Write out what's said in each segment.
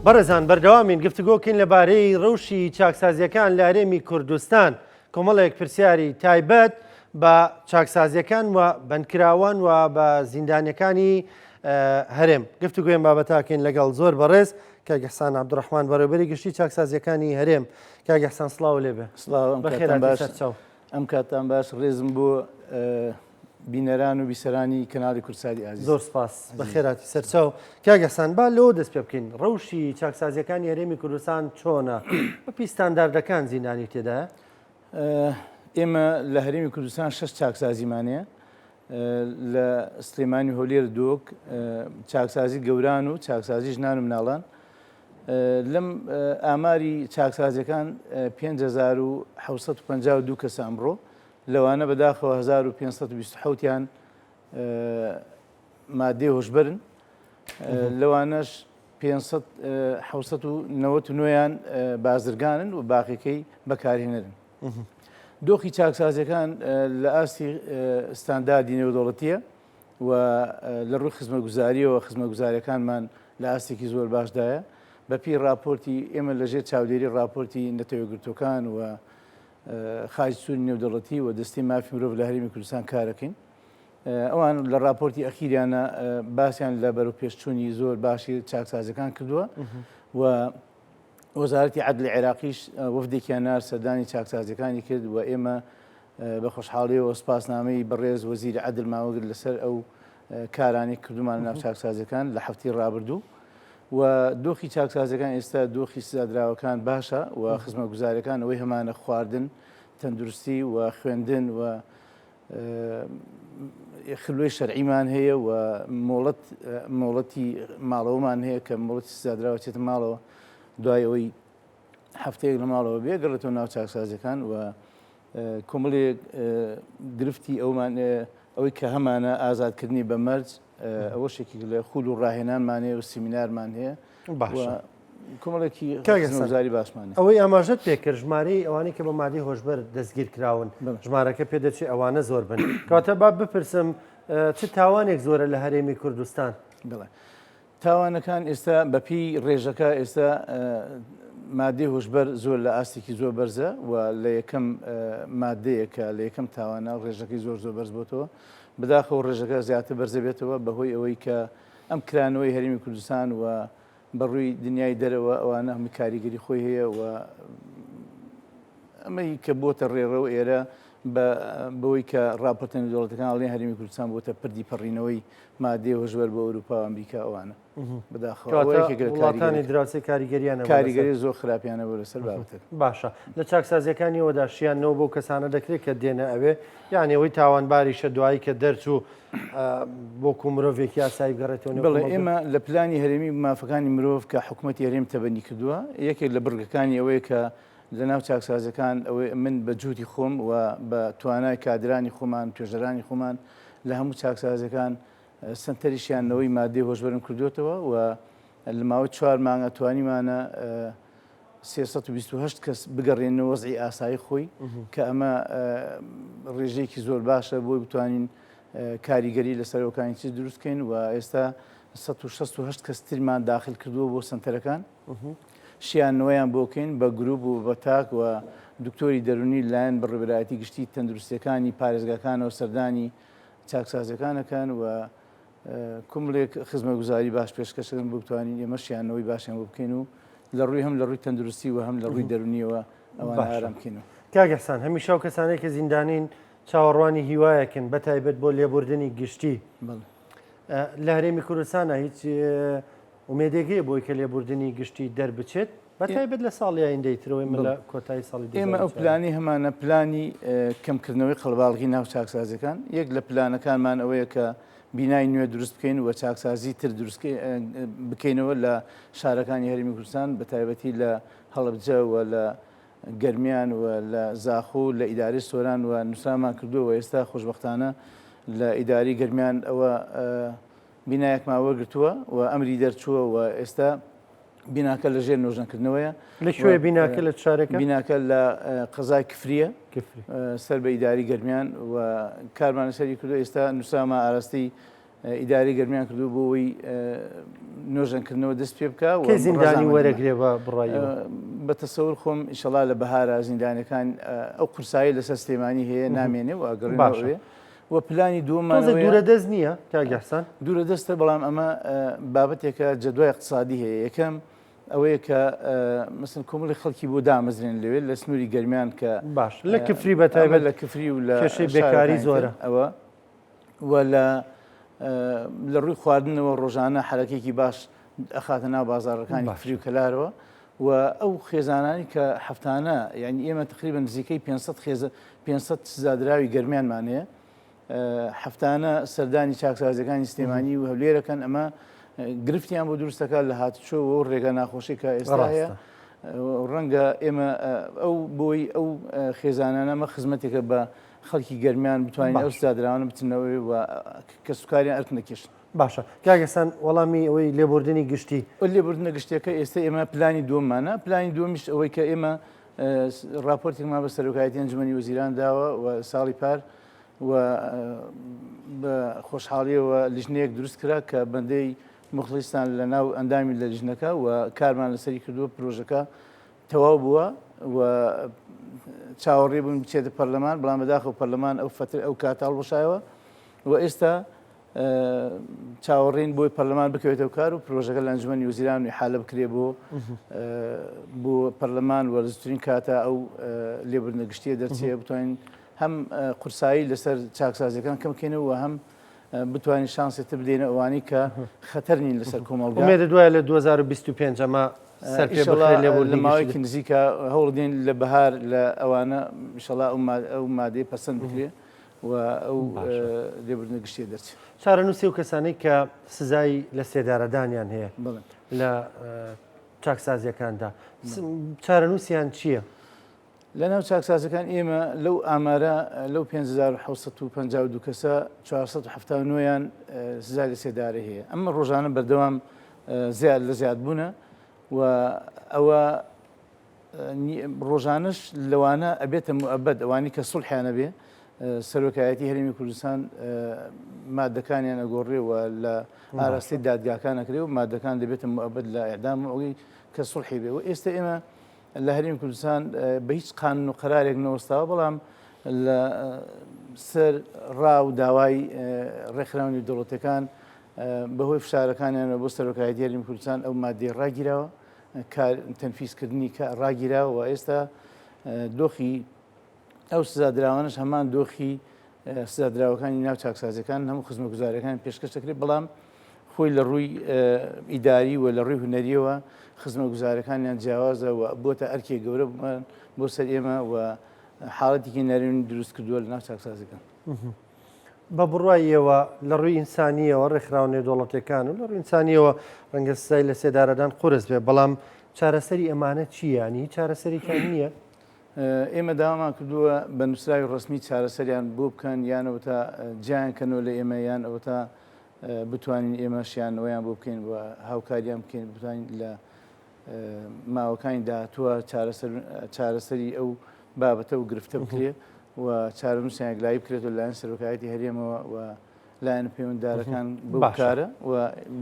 بەڕێزان بەردەوامین گفتوگۆکەین لەبارەی ڕەوشی چاکسازیەکان لە هەرێمی کوردستان کۆمەڵێک پرسیاری تایبەت بە چاکسازیەکان و بەندکراوان و بە زیندانەکانی هەرێم گفتوگوێن بابەتاکەین لەگەڵ زۆر بەڕێز کە گەحسان عبدڕحمان بەڕێبەری گشتی چاکسازیەکانی هەرێم کا گەحسان سلااو لێبێ ئەم کاتان باش ڕێزم بۆ بینەران و بیسەرانی کەناڵی کوردساتی ئازیز. زۆر سوپاس. بەخێرهاتی سەرچاو. کاک ئیحسان با لەوە دەست پێ بکەین، ڕەوشی چاکسازییەکانی هەرێمی کوردستان چۆنە؟ بەپێی ستانداردەکان زیندانی تێدایە؟ ئێمە لە هەرێمی کوردستان شەش چاکسازیمان هەیە. لە سلێمانی و هەولێر دۆک چاکسازی گەوران و چاکسازی ژنان و مناڵان لەم ئاماری چاکسازیەکان 1950 کەسە ئەمڕۆ لەوانە بەداخەوە هەزار و پێنج سەد و بیست و حەوت یان مادەی هۆشبەرن، لەوانەش پێنج سەد حەوت سەد و نەوەت و نۆیان بازرگانن و باقیەکەی بەکارهێنەرن. دۆخی چاکسازیەکان لە ئاستی ستانداردی نێودەوڵەتیە و لە ڕووی خزمەتگوزاریەوە خزمەتگوزاریەکانمان لە ئاستێکی زۆر باشدایە. بەپێی ڕاپۆرتی ئێمە لەژێر چاودێری ڕاپۆرتی نەتەوە یەکگرتووەکان و خاچ سوری نێودەڵەتی و دەستی مافی مرۆڤ لە هەرێمی کوردستان کارەکەین ئەوان لە راپۆرتی ئەخیریانە باسییان لە بەرەو پێشچوونی زۆر باشی چاکسازەکان کردووە و وەزارەتی عدل عێراقیش وەفدێکیان نار سەردانی چاکسازەکانی کرد و ئێمە بە خۆشحاڵیەوە سپاسنامەی بەڕێز وەزیری عدل ماوەگر لەسەر ئەو کارانەی کردومانە ناو چاکسازیەکان لە هەفتەی ڕابردوو و دۆخی چاکسازەکان ئێستا دۆخی سزادراوەکان باشە و خزمە گوزارەکان ئەوەی هەمانە خواردن تەندروستی و خوێندن و خلوی شەرعیمان هەیە و مۆڵەت مۆڵەتی ماڵەوەمان هەیە کە مڵەتی سزادراوە چێتە ماڵەوە دوای ئەوەی هەفتەیەک لە ماڵەوە بێگەڕێتەوە ناو چاکسازەکان و کۆمەڵی گرفتی ئەومان ئەوەی کە هەمانە ئازادکردنی بە مەرج ئەوە شێکی لە خول و ڕاهێنانمانێ و سیمینارمان هەیە کۆمەڵێکی کاگەزاری باسمان ئەوەی ئاماژەت پێکرد ژمارەی ئەوانەی کە بە مادی هۆشبەر دەستگیر کراون ژمارەکە پێ دەچێت ئەوانە زۆر بن کاتە با بپرسم چ تاوانێک زۆرە لە هەرێمی کوردستان بڵێ تاوانەکان ئێستا بە پێی ڕێژەکە ئێستا مادەی هۆشبەر زۆر لە ئاستێکی زۆر بەرزە و لە یەکەم مادەیەکە لە یەکەم تاوانە ڕێژەکەی زۆر زۆر بەرز بۆتەوە بداخەوە ڕێژەکە زیاتر بەرزە بێتەوە بەهۆی ئەوەی کە ئەم کرانەوەی هەرمی کوردستان و بەڕووی دنیای دەرەوە ئەوانە هەمی کاریگەری خۆی هەیە و ئەمەی کە بۆتە ڕێڕە و ئێرە بە بەوەی کە ڕاپۆرتە نێودەوڵەتەکان ئەڵێن هەرێمی کوردستان بۆتە پردی پەڕینەوەی مادەی هۆشبەر بۆ ئەوروپا و ئەمریکا ئەوانە بەداخەوەکانی دراوسی کاریگەریان کاریگەری زۆر خراپیانە بۆ لەسەر بابەتە باشە لە چاکسازیەکانیەوەدا شیانەوە بۆ کەسانە دەکرێت کە دێنە ئەوێ یانەوەی تاوانباریشە دوایی کە دەرچوو بۆ کو مرۆڤێکی یاسایی گەڕێتەوە بڵێ ئێمە لە پلانی هەرێمی مافەکانی مرۆڤ کە حکوومەتی هەرێم تەبەنی کردووە یەکێک لە بڕگەکانی ئەوەیە کە لە ناو چاکسازیەکان ئەوەی من بە جهودی خۆم و بە توانای کادرانی خۆمان توێژەرانی خۆمان لە هەموو چاکسازیەکان سەنتەری شیاندنەوەی مادەی هۆشبەرم کردووەتەوە و لە ماوەی چوار مانگا توانیمانە سێ سەد و بیست و هەشت کەس بگەڕێنە وەزعی ئاسایی خۆی کە ئەمە ڕێژەیەکی زۆر باشە بۆی بتوانین کاریگەری لە سەرۆکانی چی دروستکەین و ئێستا سەد و شەست و هەشت کەس ترمان داخل کردووە بۆ سەنتەرەکان شیان نوێیان بۆ بکەین بە گروپ و بە تاک و دکتۆری دەرونی لەلایەن بڕیبرایەتی گشتی تەندروستیەکانی پارێزگاکانەوە سەردانی چاکسازیەکان ئەکەن و کوملێک خزمەگوزاری باش پێشکەشکردن بۆ بتوانین ئێمە شیانەوەی باشیان بۆ بکەین و لە ڕووی هەم لە ڕووی تەندروستی و هەم لە ڕووی دەرونیەوە ئەوان ئارام بکەین کاگەسان هەمیشە و کەسانێک کە زیندانین چاوەڕوانی هیوایەکن بە تایبەت بۆ لێبوردنی گشتی لە هەرێمی کوردستانە هیچ ئومێدێگەیە بۆی کە لێبوردنی گشتی دەربچێت بە تایبەت لە ساڵی ئایندەی ترەوەی من لە کۆتایی ساڵی دوو هەزار و چواردە. ئێمە ئەو پلانی هەمانە پلانی کەمکردنەوەی قەڵباڵغی ناو چاکسازیەکان یەک لە پلانەکانمان ئەوەیە کە بینای نوێ دروست بکەین و چاکسازی تر دروست بکەینەوە لە شارەکانی هەرێمی کوردستان بە تایبەتی لە هەڵەبجە و لە گەرمیان و لە زاخۆ و لە ئیدارەی سۆران و نوسرامان کردووە و ئێستا خۆشبەختانە لە ئیدارەی گەرمیان ئەوە بینایەکمان وەرگرتووە و ئەمری دەرچووە و ئێستا بیناکە لە ژێر نۆژەنکردنەوەیە. لە کوێ بیناکە لە چارەکە؟ بیناکە لە قەزای کفریە سەر بە ئیداری گەرمیان و کارمان لەسەری کردو ئێستا نووسراما ئاراستەی ئیداری گەرمیان کردو بۆ ئەوەی نۆژەنکردنەوە دەست پێ بکە و کەی زیندانی وەرەگرێ بە بڕای ئێوە؟ بە تەسەور خۆم ئیشەڵا لە بەهارا زیندانەکان ئەو قورسایی لەسەر سلێمانی هەیە نامێنێ و ئەگەڕێنەوە ئەوێ. و پلانی دووەمان دوورە دەست نییە کاگەحسان دوورە دەستە بەڵام ئەمە بابەتێکە جەدوای اقتصادی هەیە یەکەم ئەوەیە کە مثل کۆمەڵی خەڵکی بۆ دامەزرێن لەوێ لە سنووری گەرمیان کە باش لە کفری بە تایبەت لە کفری و لە کێشەی بێکاری زۆرە ئەوە و لە لە ڕووی خواردنەوە ڕۆژانە حرەکێکی باش ئەخاتە ناو بازارەکانی فری و کەلارەوە و ئەو خێزانانی کە هەفتانە یعنی ئێمە تقریبا نزیکەی 500 خێزە 500 سزادراوی گەرمیانمان هەیە هەفتانە سەردانی چاکسازەکانی سلێمانی و هەولێرەکەن ئەمە گرفتیان بۆ دروستەکە لە هاتچۆ و ڕێگە ناخۆشی کە ئێستا هەیە ڕەنگە ئێمە ئەو بۆی ئەو خێزانانەمە خزمەتێکە بە خەڵکی گەرمیان بتوانین ئەو سزادراوانە بچنەوەی و کەسوکاریان ئەرک نەکێشن باشە کاک ئێسان وەڵامی ئەوەی لێبوردنی گشتی. لێبوردنە گشتیەکە ئێستا ئێمە پلانی دووەممانە پلانی دووەمیش ئەوەی کە ئێمە راپۆرتێکمان بە سەرۆکایەتی ئەنجومەنی وەزیران داوە و ساڵی پار و بە خۆشحاڵیەوە لیژنەیەک دروست کرا کە بەندەی مخلیستان لە ناو ئەندامی لە لیژنەکە و کارمان لەسەری کردووە پرۆژەکە تەواو بووە و چاوەڕێ بوون بچێتە پەرلەمان بەڵام بەداخەوە پەرلەمان ئەو فتر ئەو کاتە هەڵوەشایەوە و ئێستا چاوەڕێین بۆی پەرلەمان بکەوێتەوە کار و پرۆژەکە لە ئەنجومی وزیران و حالە بکرێ بۆ بۆ پەرلەمان وەرزترین کاتە ئەو لێبرنە گشتیە دەرچەیە بتوانین هەم قورسایی لەسەر چاکسازەکان کەمکەینەوە هەم بتوانین شانسێت بدەینە ئەوانی کە خەتەر نین لەسەر کۆمەڵگە مێرە دوای لە 2025 ئەمە لە ماوەیەکی نزیکە هەوڵدین لە بەهار لە ئەوانە میشەڵا ئەو مادەی پەسەند بکرێ و ئەو لێبوردنە گشتیە دەرچێت. چارەنووسی ئەو کەسانەی کە سزای لە سێدارەدانیان هەیە لە چاکسازیەکاندا چارەنووسیان چییە؟ لە ناو چاکسازەکان ئێمە لەو ئامارە لەو 1952 کەسە 1970یان سزای لە سێدارە هەیە ئەمە ڕۆژانە بەردەوام زیاد لە زیاد بوونە و ئەوە ڕۆژانەش لەوانە ئەبێتە موئەبەد ئەوانی کە سوڵحیان نەبێ سەرۆکایەتی هەرێمی کوردستان مادەکانیان ئەگۆڕێ و لە ئاراستەی دادگاکان ئەکرێ و مادەکان دەبێتە موئەبەد لە ئێدام ئەوەی کە سوڵحی بێ و ئێستا ئێمە لە هەریم کوردستان بە هیچ قانون و قرارێک نەوەستاوە بەڵام لە سەر ڕا و داوای ڕێکخراونی دەوڵەتەکان بەهۆی فشارەکانیان بۆ سەرۆکایەتی هەریم کوردستان ئەو مادەی ڕاگیرەوە کار تەنفیز کردنی کە ڕاگیرا و ئێستا دۆخی ئەو سزادراوانش هەمان دۆخی سزادراوەکانی ناو چاکسازەکان هەموو خزمە گوزارەکان پێشکەش دەکرێت بەڵام خۆی لە ڕووی ئیداری و لە ڕووی هوەریەوە خزمە گوزارەکانیان جیاوازە و بۆتە ئەرکێک گەورە بمان بۆ سەر ئێمە و حاڵەتێکی نەرێن دروست کردووە لە ناو چاکسازەکان. بە بڕوای ئێوە لە ڕووی ئینسانیەوە ڕێکخراوە نێودەوڵەتیەکان و لە ڕووی ئینسانیەوە ڕەنگە سزای لە سێدارەدان قورس بێ بەڵام چارەسەری ئەمانە چییە ینی هیچ چارەسەرێکیان نییە؟ ئێمە داوامان کردووە بە نووسراوی ڕسمی چارەسەریان بۆ بکەن یان ئەوە تا جیان کەنەوە لە ئێمە یان ئەوە تا بتوانین ئێمەشیانەوەیان بۆ بکەین و هاوکاریان بکەین بتوانین لە ماوەکانی داهاتووە چارەسەری ئەو بابەتە و گرفتە بکرێ و چارەنووسیان یەکلایی بکرێتەوە لایەن سەرۆکایەتی هەرێمەوە و لایەن پەیوەنددارەکان بکارە و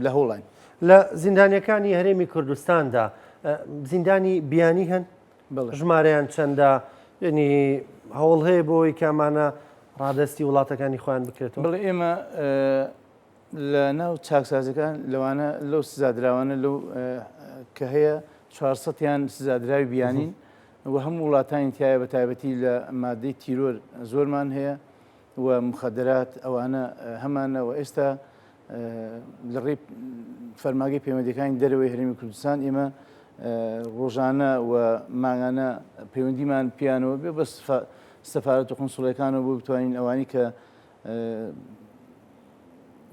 لە هۆڵاین لە زیندانەکانی هەرێمی کوردستاندا زیندانی بیانی هەن ژمارەیان چەندە ینی هەوڵ هەیە بۆی کامانە ڕادستی وڵاتەکانی خۆیان بکرێتەوە بڵێ ئێمە لە ناو چاکسازیەکان لەوانە لەو سزادراوانە لەو کە هەیە چوار سەد یان سزادراوی بیانین و هەموو وڵاتانی تایە بە تایبەتی لە مادەی تیرۆر زۆرمان هەیە و مخدرات ئەوانە هەمانەوە ئێستا لە ڕێی فەرماگەی پەیوەندەکانی دەرەوەی هەرمی کوردستان ئێمە ڕۆژانە و ماگانە پەیوەندیمان پیانەوە بێ بەس سەفاەت و قنسڵەکانەوە بۆ بتوانین ئەوانی کە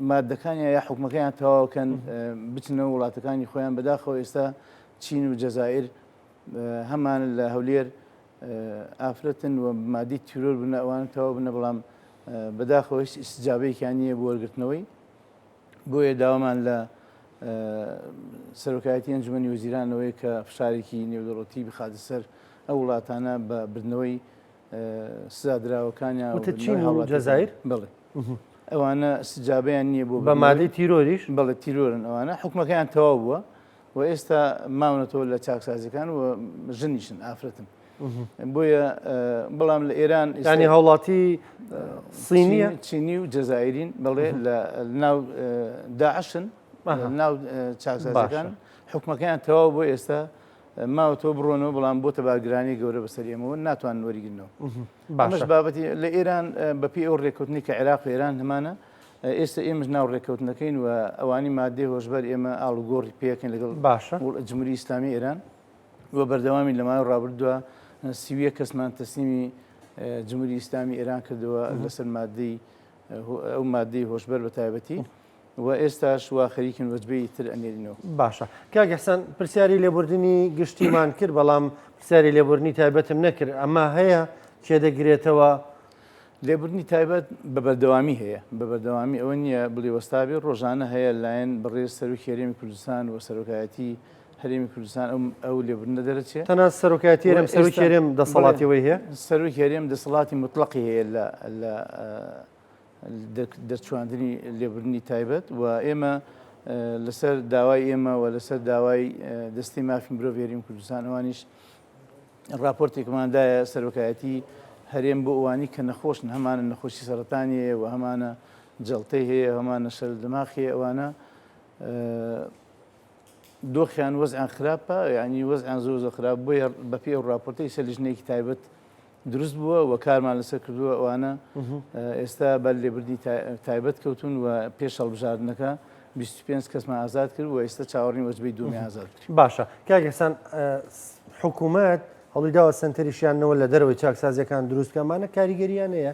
مادەکانیان یا حکومەکەیان تەواوکەن بچنە وڵاتەکانی خۆیان بەداخەوە ئێستا چین و جەزائر هەمان لە هەولێر ئافرەتن و مادی تیرۆر بنە ئەوان تەواو بنە بەڵام بەداخەوە هیچ ئیسجابەیەکیان نییە بۆ وەرگرتنەوەی بۆیە داوامان لە سەرۆکایەتی ئەنجومی وزیرانەوەی کە فشارێکی نێودەڵەتی بخاتە سەر ئەو وڵاتانە بە بردنەوەی سزادراوەکانیان وتە چین هەڵ جەزایر بڵێ ئەوانە سجابیان نییە بۆ بە مادەی تیرۆریش بڵێ تیرۆرن ئەوانە حکومەکەیان تەواو بووە و ئێستا ماونەتەوە لە چاکسازەکان و ژنیشن ئافرەتن بۆیە بەڵام لە ئێران ئێستانی هاوڵاتی سینیە چینی و جەزایرین بڵێ لە ناو داعشن ناو چاکسازەکان حکومەکەیان تەواو بۆ ئێستا ماوەتەوە بڕۆنەوە بەڵام بۆتە باگرانی گەورە بەسەر ئێمەوە ناتوان وەریگرنەوە باشش بابەتی لە ئێران بەپی ئەو ڕێکوتنی کە عێراق و ئێران هەمانە ئێستا ئێمەش ناو ڕێککەوتنەکەین و ئەوانی مادێ هۆشبەر ئێمە ئاڵوگۆڕی پێکەن لەگەڵ باشە جمهوری ئیسلامی ئێران و بەردەوامی لە ماوەی ڕابردووە سیویە کەسمان تەسلیمی جمهوری ئیسلامی ئێران کردەوە لەسەر مادەی ئەو مادەی هۆشبەر بە تایبەتی وە ئێستاش وا خەریکن وەجبەی تر ئەنێرینەوە. باشە کاک ئیحسان پرسیاری لێبوردنی گشتیمان کرد بەڵام پرسیاری لێبوردنی تایبەتم نەکرد ئەمە هەیە کێ دەگرێتەوە؟ لێبوردنی تایبەت بە بەردەوامی هەیە بە بەردەوامی ئەوە نییە بڵێ وەستابێ ڕۆژانە هەیە لایەن بەڕێز سەرۆکی هەرێمی کوردستان و سەرۆکایەتی هەرێمی کوردستان ئەو لێبوردنە دەرەچێ تەنها سەرۆکایەتی هەرێم سەرۆکی هەرێم دەسەڵاتی ئەوەی هەیە سەرۆکی هەرێم دەسەڵاتی موتڵەقی هەیە لە دەرچواندنی لێبوردنی تایبەت و ئێمە لەسەر داوای ئێمە و لەسەر داوای دەستی مافی مرۆڤ هێریم کوردستان ئەوانیش راپۆرتێکماندایە سەرۆکایەتی هەرێم بۆ ئەوانی کە نەخۆشن هەمانە نەخۆشی سەرەتانیەیە و هەمانە جەڵتەی هەیە هەمانە شەر دماخی ئەوانە دۆخیان وەزیان خراپە ینی وەزیان زۆر زۆ خراپ بۆیە بەپی ئەو راپۆرتی سەلیژنێکی تایبەت دروست بووە و کارمان لەسەر کردووە، ئەوانە ئێستا بەر لێبوردنی تایبەت کەوتوون و پێش هەڵبژاردنەکە بیست و پێنج کەسمان ئازاد کرد و ئێستا چاوەڕێین وەجبەی دووەمیان ئازاد بکەین. باشە کاک ئیحسان حکوومەت هەوڵی داوە سەنتەری شیاندنەوە لە دەرەوەی چاکسازییەکان دروست بکات، ئەمانە کاریگەرییان هەیە؟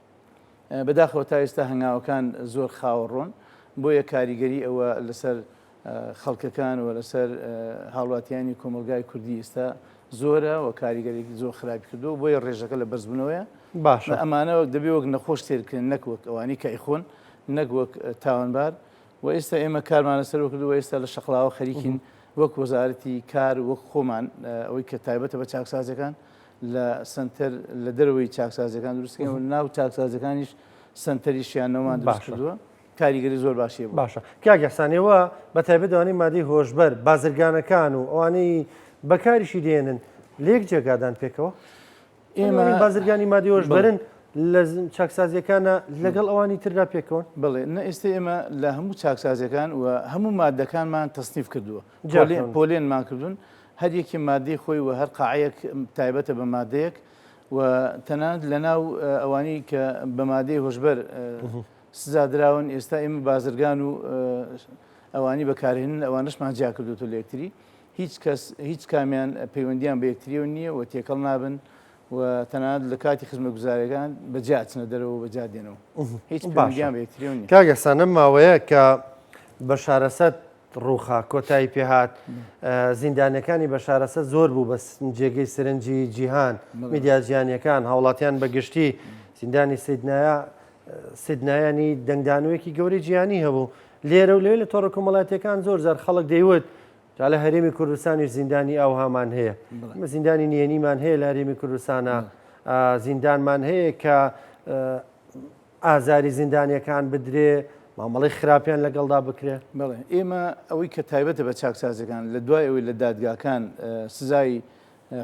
بەداخەوە تا ئێستا هەنگاوەکان زۆر خاوەڕۆن، بۆیە کاریگەری ئەوە لەسەر خەڵکەکان و لەسەر هاوڵاتیانی کۆمەڵگای کوردی ئێستا زۆرە و کاریگەرێکی زۆر خراپی کردو بۆیە ڕێژەکە لە بەرزبوونەوەیە باشە ئەمانە دەبێ وەک نەخۆش تێرکرێن نەک وەک ئەوانی کە ئەیخۆن نەک وەک تاوانبار و ئێستا ئێمە کارمان لەسەرەوە کردو ئێستا لە شەقلاوە خەریکین وەک وەزارەتی کار وەک خۆمان ئەوەی کە تایبەتە بە چاکسازەکان لە سەنتەر لە دەرەوەی چاکسازیەکان دروستکەین و ناو چاکسازەکانیش سنتەری شیانەوەمان دروستکردووە کاریگەری زۆر باشی باشە کاگەسانەوە بە تایبەتوانی مادی هۆشبەر بازرگانەکان و ئەوانەی بەکاریشی دێنن لێک جێگادان پێکەوە ئێمە بازرگانی مادی هۆشبەرن لە چاکسازیەکانە لەگەڵ ئەوانی تردا پێکەوە بڵێ نە ئێستا ئێمە لە هەموو چاکسازەکان و هەموو مادەکانمان تەسنیف کردووە پۆلێنمان کردوون هەر یەکێ مادەی خۆی و هەر قاعەیەک تایبەتە بە مادەیەک و تەنانەت لە ناو ئەوانی کە بە مادەی هۆشبەر سزا دراون ئێستا ئێمە بازرگان و ئەوانی بەکارهێنن ئەوانشمان جیا کردوتە لە یەکتری هیچ کەس هیچ کامیان پەیوەندیان بە یەکتریەوە نییە و تێکەڵ نابن و تەنانەت لە کاتی خزمە گوزارەکان بە جیاچنە دەرەوە بە جادێنەوە هیچ باشیان بە یەکتریەوە نیە کاگەسانە ماوەیە کە بە شارەسەت ڕووخا، کۆتایی پێ هات. زیندانییەکانی بەشار ئەسەد زۆر بوو بەس جێگەی سرنجی جیهان، میدیا جیهانییەکان، هاوڵاتیان بە گشتی، زیندانی سیدنایە، سیدنایانی دەنگدانەوەیەکی گەورەی جیهانی هەبوو. لێرە و لەوێ لە تۆڕە کۆمەڵاتییەکان زۆر جار خەڵک دەیوت جا لە هەرێمی کوردستانیش زیندانی ئاوهامان هەیە. ئێمە زیندانی نهێنیمان هەیە لە هەرێمی کوردستانا، زیندانمان هەیە کە ئازاری زیندانیەکان بدرێ، مامەڵەی خراپیان لەگەڵدا بکرێ. بەڵێ ئێمە ئەوەی کە تایبەتە بە چاکسازیەکان لە دوای ئەوەی لە دادگاکان سزای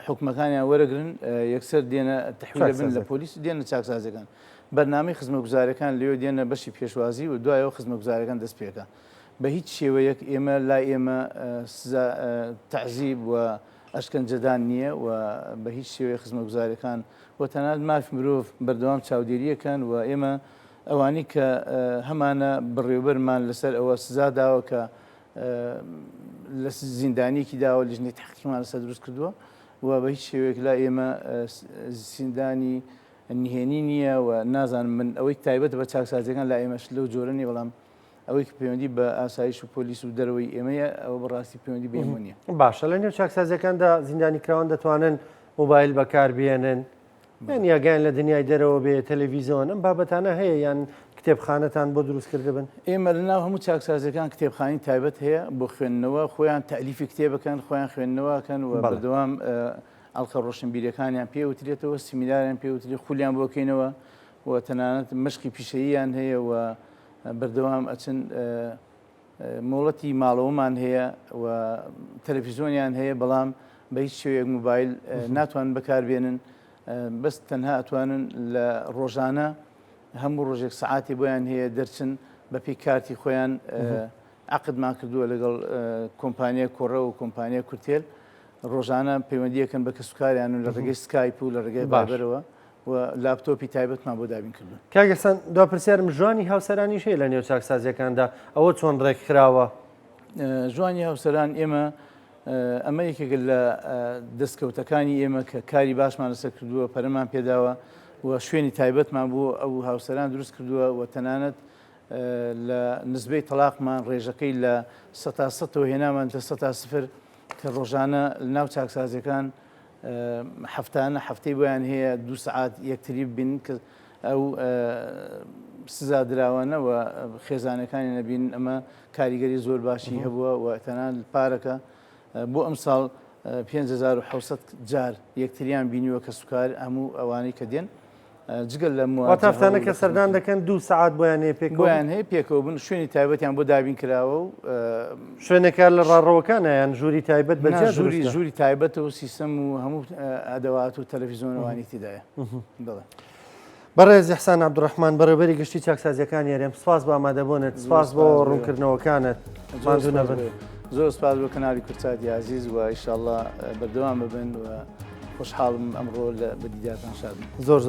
حوکمەکانیان وەرەگرن یەکسەر دێنە تحویلە بن لە پۆلیس دێنە چاکسازیەکان بەرنامەی خزمەگوزارەکان لەوێ دێنە بەشی پێشوازی و دوایەوە خزمەگوزارەکان دەست پێکە بە هیچ شێوەیەک ئێمە لای ئێمە سزا تەعزیب و ئەشکەنجەدان نییە و بە هیچ شێوەیەک خزمەتگوزاریەکان و تەنانەت مافی مرۆڤ بەردەوام چاودێرییەکەن و ئێمە ئەوانی کە هەمانە بڕێوبەرمان لەسەر ئەوە سزا داوە کە لە زیندانیەکی داوە لژنی تحقیمان لەسەر دروست کردووە و بە هیچ شێوەیەک لا ئێمە زیندانی نهێنی نییە و نازانم من ئەوەی تایبەت بە چاکسازیەکان لا ئێمەش لەو جۆرە نیە بەڵام ئەوەی کە پەیوەندی بە ئاسایش و پۆلیس و دەرەوەی ئێمەیە ئەوە بەڕاستی پەیوەندی بە ئێمە نییە. باشە لە نێو چاکسازیەکاندا زیندانیکراوان دەتوانن موبایل بەکاربێنن یان یاگەیان لە دنیای دەرەوە بێ تەلەڤیزیۆن ئەم بابەتانە هەیە یان کتێبخانەتان بۆ دروست کردبن؟ ئێمە لە ناو هەموو چاکسازیەکان کتێبخانی تایبەت هەیە بۆ خوێندنەوە خۆیان تالیفی کتێبەکەن خۆیان خوێندنەوەکەن و بەردەوام ئەڵقە ڕۆشنبیرەکانیان پێوترێتەوە سیمیناریان پێوتری خولیان بۆکەینەوە و تەنانەت مشقی پیشەییان هەیە و بەردەوام ئەچن مۆڵەتی ماڵەوەمان هەیە و تەلەفیزۆنیان هەیە بەڵام بە هیچ شێوەیەک موبایل ناتوان بەکاربێنن بەس تەنها ئەتوانن لە ڕۆژانە هەموو ڕۆژێک سعاتی بۆیان هەیە دەرچن بە پێی کارتی خۆیان عقدمان کردووە لەگەڵ کۆمپانیا کۆڕە و کۆمپانیا کورتێل ڕۆژانە پەیوەندیەکەن بە کەسوکاریان و لە ڕێگەی سکایپ و لە ڕێگەی بابەرەوە و لاپتۆپی تایبەتمان بۆ دابین کردوون. کاک ئیحسان دوا پرسیارم ژانی هاوسەرانیش هەیە لە نێو چاکسازیەکاندا ئەوە چۆن ڕێک خراوە؟ ژانی هاوسەران ئێمە ئەمە یەکێکە لە دەستکەوتەکانی ئێمە کە کاری باشمان لەسەر کردووە پەرەمان پێداوە و شوێنی تایبەتمان بۆ ئەو هاوسەران دروست کردووە و تەنانەت لە نزبەی تەلاقمان ڕێژەکەی لە سەتا سەتەوە هێنامان لە سەتا سفر کە ڕۆژانە ناو چاکسازیەکان هەفتانە هەفتەی بۆیان هەیە دوو سەعات یەکتری ببینن کە ئەو سزا دراوانە و خێزانەکانی نەبین ئەمە کاریگەری زۆر باشی هەبووە و تەنان پارەکە بۆ ئەم ساڵ 5600 جار یەکتریان بینیوە کە سوکار هەموو ئەوانەی کە دێن جگە لە مواتافتانە کە سەردان دەکەن دوو سعات بۆیان هەیە پێکۆیان هەیە پێکەوە بن شوێنی تایبەتیان بۆ دابین کراوە و شوێنەکە لە ڕاڕەوەکانیان ژووری تایبەت بە ژووری ژووری تایبەتە و سیستم و هەموو ئەدەوات و تەلەڤیزۆنەوانی تیدایە بڵێ. بەڕێز حسان عبدڕحمان بەڕێبەری گشتی چاکسازیەکان یارێم سپاس بە ئامادەبوونت سپاس بۆ ڕوونکردنەوەکانت مازوو نەبن زۆر سپاس بۆ کەنالی کورتات یازیز و ئیشاءله بەردەوام ببن و خوشحاڵم ئەمڕۆ لە بەدیداتان شاد زۆر زۆر